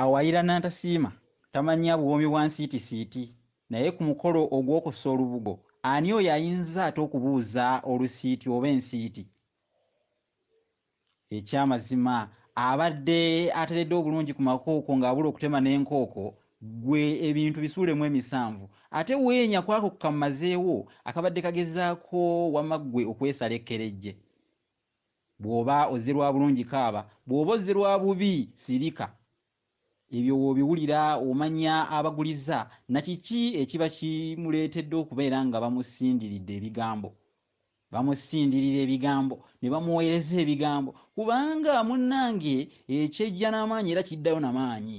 Awayira Nantasiima tamanyi abuwoomi bwa nsiitisiiti, naye ku mukolo ogw'okussa olubugo ani oyo ayinza ate okubuuza olusiiti oba ensiiti? Ekyamazima abadde ateredde obulungi ku makooko ng'abula okutema n'enkooko, ggwe ebintu bisuulemu emisanvu ate weenya ku ako kammazeewo akabadde kagezaako wamma ggwe okwesala ekkerejje. Bw'oba ozze lwa bulungi kaaba, bw'oba ozze lwa bubi sirika. Ebyo w'obiwulira omanya abagulizza na kiki ekiba kimuleetedde okubeera nga bamusindiridde ebigambo. Bamusindirira ebigambo ne bamuweereza ebigambo kubanga munnange ekyejja n'amaanyi era kiddayo na maanyi.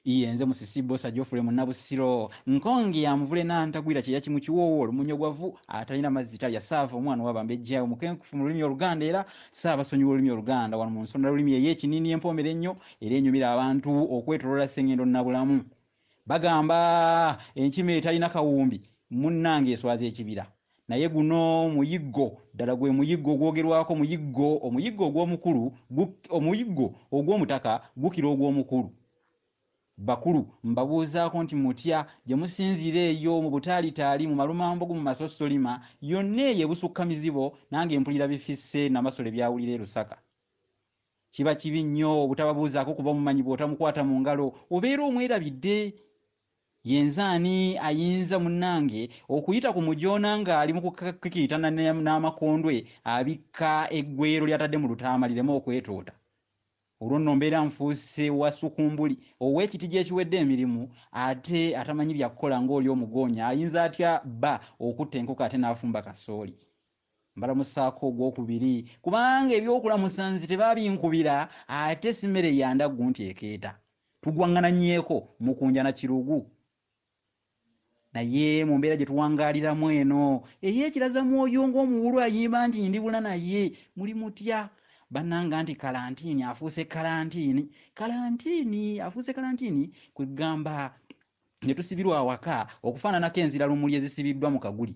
Iye nze musisi bbosa Geoffrey Munnabusiro. Nkonge ya muvule n'antagwira kyeya kimu kiwoowo, lumunyogwavu, atalina mazzi talya, saava omwana owa bambejja, omukenkufu mu lulimi Oluganda era ssaabasonyiwa olulimi Oluganda. Wano mu nsonda lulimi eye Kinini empoomera ennyo era enyumira abantu okwetoloola Ssengendo Nabulamu. Bagamba, Enkima etalina kawumbi munnange eswaza ekibira. Naye guno muyiggo, ddala gwe muyiggo ogwogerwako, muyiggo, omuyiggo ogw'omukulu, gu, omuyiggo ogw'omutaka gukira ogw'omukulu. Bakulu, mbabuuzaako nti mutya, gye musinziira eyo mu butaalitaali, mu malumambogo, mu masossolima, yonna eyo ebusukka mizibo, nange mpulira bifisse Namasole by'awulira e Lusaka. Kiba kibi nnyo obutababuuzaako kuba omumanyi bw'otamukwata mu ngalo obeera omwerabidde. Yenze ani ayinza munange okuyita ku mujoona nga ali mukukikiitana n'amakondwe abikka eggweero lyatadde mu lutaama lireme okwetoota? Olwo nno mbeera nfuuse wa sukumbuli ow'ekitigi ekiwedde emirimu ate atamanyi byakukola ng'oli omugoonya ayinza atya bba okutta enkoko ate n'afumba kasooli? mbalamusaako ogwokubiri kubanga ebyokulamusa nze tebaabinkubira ate si mmere ya ndaggu nti ekeeta tugwaŋŋananyeeko mukunja na kirugu naye mu mbeera gye tuwangaaliramu eno ey'ekiraza mwoyo ng'omuwulu ayimba nti ndibula naye muli mutya bannanga nti kalantiini afuuse kalantiini kalantiini afuuse kalantiini kwe ggamba ne tusibirwa awaka okufaananako enziralumuli ezisibiddwa mu kaguli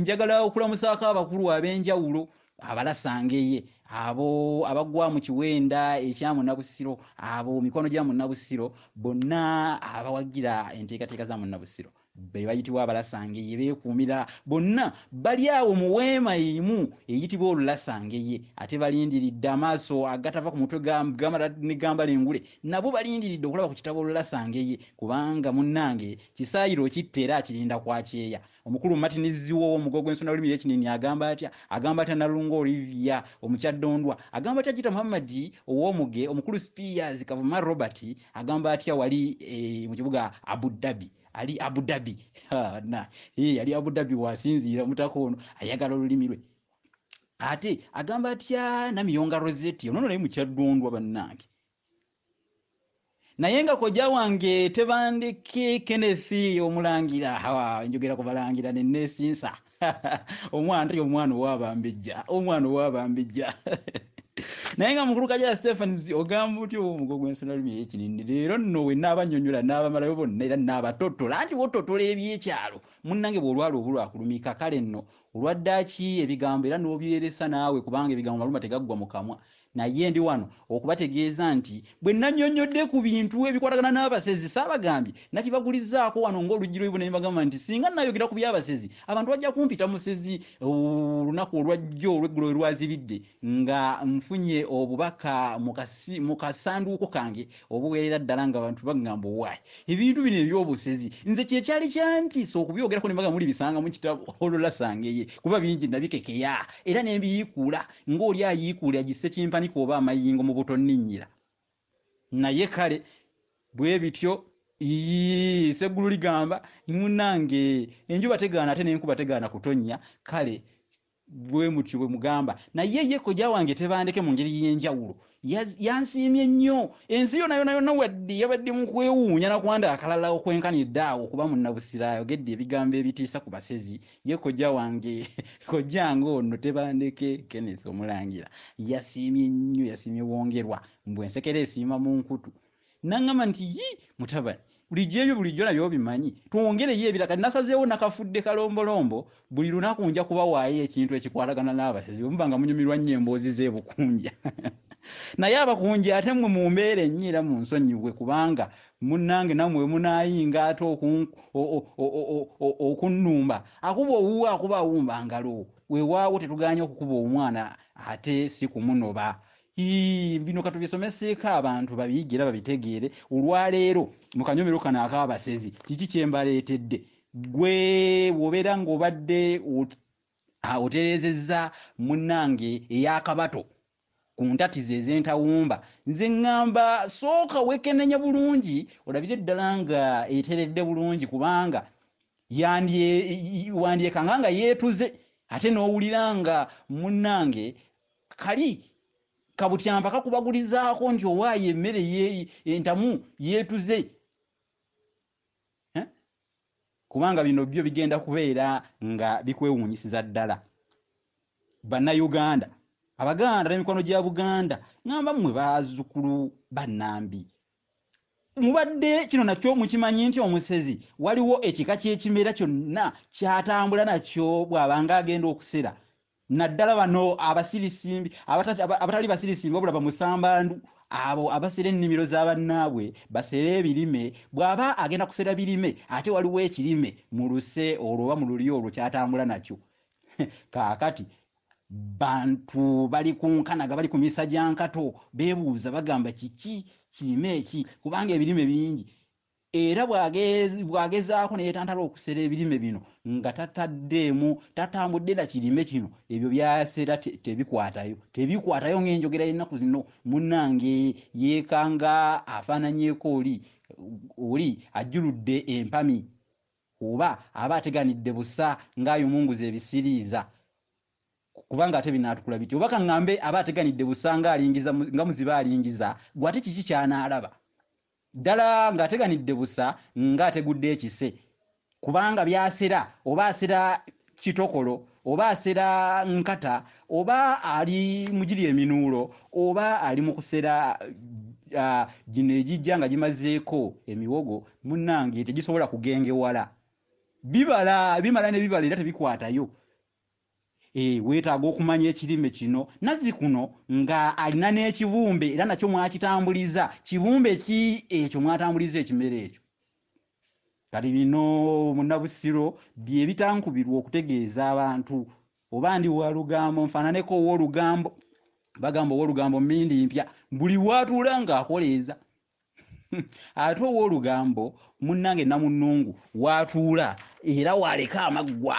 njagala okulamusaako abakulu ab'enjawulo abalasangeye abo abagwa mu kiwenda ekya munnabusiro abo mikono gya munnabusiro bonna abawagira enteekateeka za munnabusiro be bayitibwa abalasangeye beekuumira bonna bali awo mu weema emu eyitibwa olulasangeye ate balindiridde amaaso agatava ku mutwe gamala ne gambala engule nabo balindiridde okulaba ku kitabo Lulasangeye kubanga munnange kisaayiro okitta era akirinda kwa kyeya. Omukulu Martin Zziwa ow'omugo gw'ensonda lulimi y'Ekinini agamba atya? Agamba atya Nalunga Olivia Omukyadondwa? Agamba atya Jjita Muhammad ow'omuge? Omukulu Spears Kavuma Robert agamba atya wali e, mu kibuga Abu Dhabi? Ali Abu Dhabi na e, ali Abu Dhabi wasinziira omutaka ono ayagala olulimi lwe ate agamba atya Namiyonga Rosette ono naye mukyaddondwa bannange naye nga kojja wange tebandiki kenneth omulangira hawa njogera ku balangira nenesinsa omwana teri omwana owabambijja omwana owabambijja naye nga mukulu kajala stephens ogamba otya omugo gwensona lumi eyekinini leero nno wenna abanyonyola n'abamalayo bonna era n'abatotola nti wototola ebyekyalo munnange bw'olwala obulwakulumika kale nno olwaddaaki ebigambo era n'obyeresa naawe kubanga ebigambo maluma tegaggwa mu kamwa Naye ndi wano okubategeeza nti bwe nnannyonnyodde ku bintu ebikwatagana n'abasezi saabagambye, nakibagulizaako wano ng'oluggi lw'ebibuno ne mbagamba nti singa nnaayogera ku by'abasezi abantu bajja kumpita musezi. Olunaku olwajjo olw'eggulo we lwazibidde nga nfunye obubaka mu kasanduuko kange obuweerera ddala ng'abantu bangamba owaaye ebintu bino eby'obusezi nze kye kyali kyantiisa okubyogerako ne mbagamba mulibisangamu kitabo olwo lasangeye kuba bingi nabikekeya era ne mbiyiikuula ng'oli ayiikuula egissekimpanika oba amayingo mu butonninnyira. Naye kale, bwe bityo. Iyii, sseggulu ligamba, Munnange! Enjuba tegaana ate n'enkuba tegaana kutonnya, kale bwe mutyo bwe mugamba. Naye ye kojja wange Tebandeke mu ngeri y'enjawulo Yaz, yansiimye nnyo. Ensi yona yona yona wadde yabadde mu kwewuunya na kwanda akalala okwenkanidde awo okuba munnabusiro ayogedde ebigambo ebitiisa ku basezi, ye kojja wange, kojja nga ono Tebandeke Kenneth Omulangira yasiimye nnyo, yasiimye Wongerwa, mbu ensekere esiima mu nkutu. Nangamba nti yi mutabani bulijjo ebyo bulijjo nabyo obimanyi twongereyo ebira kati nasazeewo nakafudde kalombolombo buli lunaku nja kubawaayo ekintu ekikwatagana n'abasezi bwe muba nga munyumirwa nnyo emboozi z'ebukunja naye abakunja ate mwe mu mbeera ennyo era mu nsonyiwe kubanga munnange namwe wemunaayinga ate okunnumba akuba owuwo akuba awumba ngalo wewaawo tetuganye okukuba omwana ate si kumunoba Ii, bino katubisomeseeko abantu babiyigge era babitegeere olwaleero mu kanyomero kano ak'abasezi kiki kye mbaleetedde ggwe bw'obeera ng'obadde ot- ah, otereezezza munnange ey'akabato ku ntatiza ez'entawumba nze ŋŋamba sooka weekennenye bulungi olabire ddala nga eteredde bulungi kubanga yandye- i- i- wandyekanga nga yeetuze ate n'owulira nga munnange Kali kabutyampa kakubagulizaako nti owaayo emmere entamu yeetuze eh? kubanga bino byo bigenda kubeera nga bikwewuunyisiza ddala bannayuganda abaganda n'emikwano gya buganda ngamba mmwe baazukulu bannambi mubadde kino nakyo mukimanyi nti omusezi waliwo ekika ky'ekimera kyonna kyatambula nakyo bw'abanga agenda okusera naddala bano abasirisimbi abatali basirisimbi wabula bamusambandu abo abasera ennimiro za bannaabwe basera ebirime bw'aba agenda kusera birime ate waliwo ekirime mu luse olwo oba mu lulyo olwo kyatambula nakyo kaakati bantu bali ku nkanaga bali ku misa gya nkato beebuuza bagamba kiki kirime eki kubanga ebirime bingi era bw'agezaako ne yeetantala okusera ebirime bino nga tataddeemu tatambudde na kirime kino ebyo by'asera tebikwatayo tebikwatayo ng'enjogera y'ennaku zino munnange yeekanga afaananyeeko oli oli ajjuludde empami oba aba ateganidde busa ng'ayumunguza ebisiriiza kubanga ate binaatukula bitya oba kaŋŋambe aba ateganidde busa ng'alingiza nga muzibe alingiza gwe ate kiki ky'anaalaba Ddala ng'ateganidde busa ng'ategudde ekise, kubanga by'asera, oba asera kitokolo, oba asera nkata, oba ali mu giri eminuulo, oba ali mu kusera gino egijja nga gimazeeko emiwogo, munnange tegisobola kugengewala. Bibala, bimala ne bibala era tebikwatayo. Eh, weetaaga okumanya ekirime kino nazzikuno nga alina n'ekibumbe era nakyo mwakitambuliza kibumbe ki ekyo mwatambuliza ekimere ekyo kati bino munabusiro bye bitankubirwa okutegeeza abantu oba ndi walugambo nfaananeko ow'olugambo bagamba ow'olugambo mindi mpya buli waatuula ng'akoleeza ate ow'olugambo munnange namunnungu waatuula era waaleka amaggwa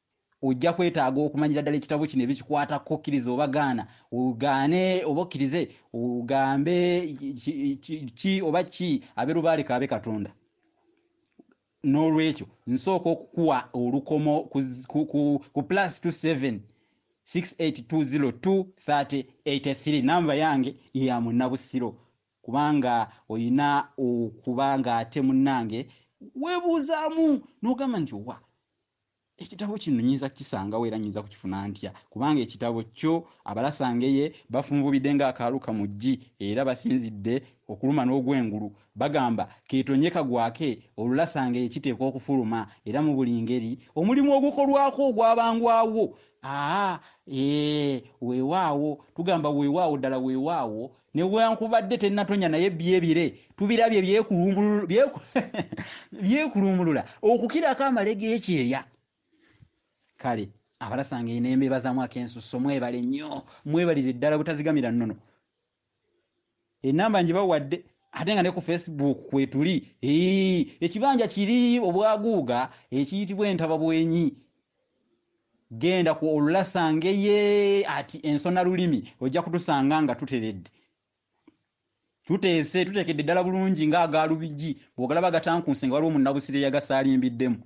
ojja kwetaaga okumanyira ddala ekitabo kino ebikikwatako okkiriza oba gaana ogaane oba okkirize ogambe ki oba ki abe lubaale kaabe katonda n'olwekyo nsooka okukuwa olukomo ku plus 27 68202383 namba yange ya munnabusiro kubanga olina okuba ng'ate munnange weebuuzaamu n'ogamba nti owa ekitabo kino nyinza kukisangawo era nyinza kukifuna ntya kubanga ekitabo kyo abalasangeye bafunvubidde ng'akaalu kamuggi era basinzidde okuluma n'ogwengulu bagamba keetonye kagwake olulasangeye kiteekwa okufuluma era mu buli ngeri omulimu ogukolwako ogwabangwawo aa ee weewaawo tugamba weewaawo ddala weewaawo newankubadde tenatonya naye byebire tubirabye byekulumbulula okukirako amale gekyeya kale abalasanga enembebazamu akensusso mwebale nnyo mwebalire ddala butazigamira nnono enamba njibawadde ate nga ne ku facebook kwetuli ekibanja kiri obwaguuga ekiyitibwa entababwenyi genda ku olulasange ye ati ensona lulimi ojja kutusanga nga tuteredde tuteese tutekedde ddala bulungi nga agaalubigi bwogalaba gatankunse nga waliwo munnabusire yagasalimbiddemu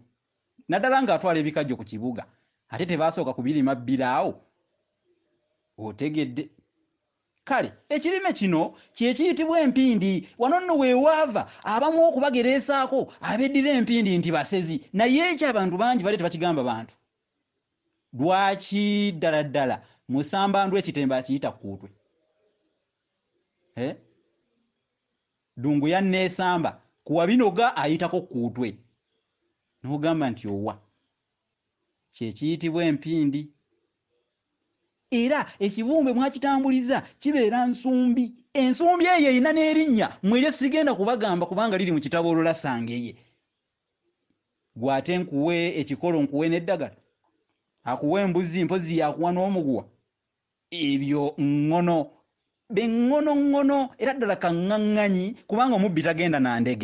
naddala nga atwala ebikajjo ku kibuga ate tebasooka kubirima bbiraawo otegedde Kale ekirime kino kye kiyitibwa empindi. Wano nno we waava abamu okubagereesaako abeddira empindi nti basezi. Naye ekyo abantu bangi badde tebakigamba bantu. Lwaki? Ddala ddala Musambandwe ekitembe akiyita kkuutwe. He? Ddungu yanneesamba ku Wabinoga ayitako kkuutwe. N'ogamba nti owa? Kye kiyitibwa empindi. Era ekibumbe mwakitambuliza kibeera nsumbi. Ensumbi eyo erina n'erinnya mmwe lye sigenda kubagamba kubanga liri mu kitabo olulasangeye. Ggwe ate nkuwe ekikolo nkuwe n'eddagala? Akuwa embuzi mpozzi y'akuwa n'omuguwa? Ebyo ŋŋono be ŋŋono ŋŋono era ddala kaŋŋaŋŋanyi kubanga omubbi tagenda na ndege.